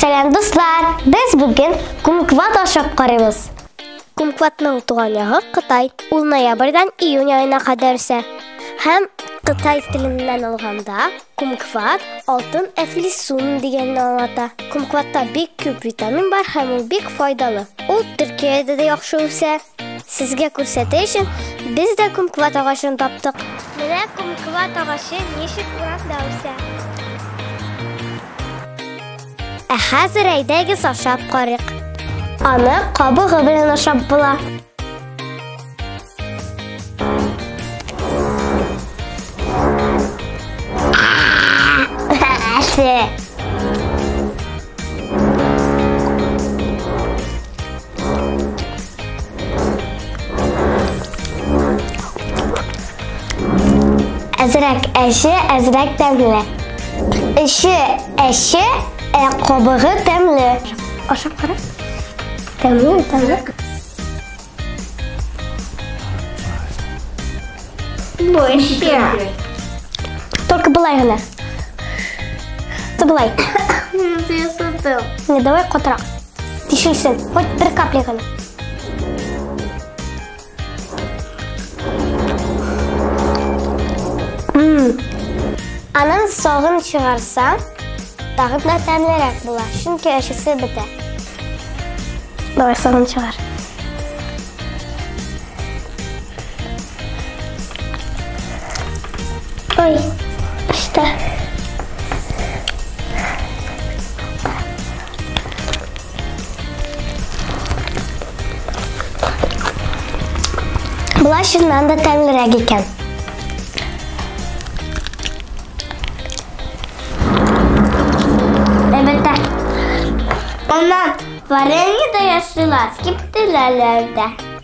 Сәлам дуслар! Без бүген кумкват ашап карыйбыз. Кумкватның туган ягы Кытай. Ул ноябрьдән июнь аена кадәр үсә. Һәм Кытай теленнән алганда кумкват алтын әфлисун дигәнне аңлата. Кумкватта бик күп витамин бар һәм ул бик файдалы. Ул Төркиядә дә яхшы үсә. Сезгә күрсәтә өчен без дә кумкват агачын таптык. Менә кумкват агачы ничек урамда үсә. Ә хәзер әйдәгез ашап карыйк. Аны кабыгы белән ашап була. Әсе! Әзрәк әче, әзрәк тәмле. Эче әче, ә кабыгы тәмле. Ашап кара. Тәмле, тәмле. Больше. Только былай гына. Ты былай. Не, давай котра. Тишелсен, хоть бер капля гына. Аның согын чыгарса, тагып да тәмлерәк була, чөнки әчесе бетә. Давай согын чыгар. Ой, işte. Болар шыннан да тәмлерәк икән. Әлбәттә. Аннан варенье да ясыйлар, киптеләләр дә.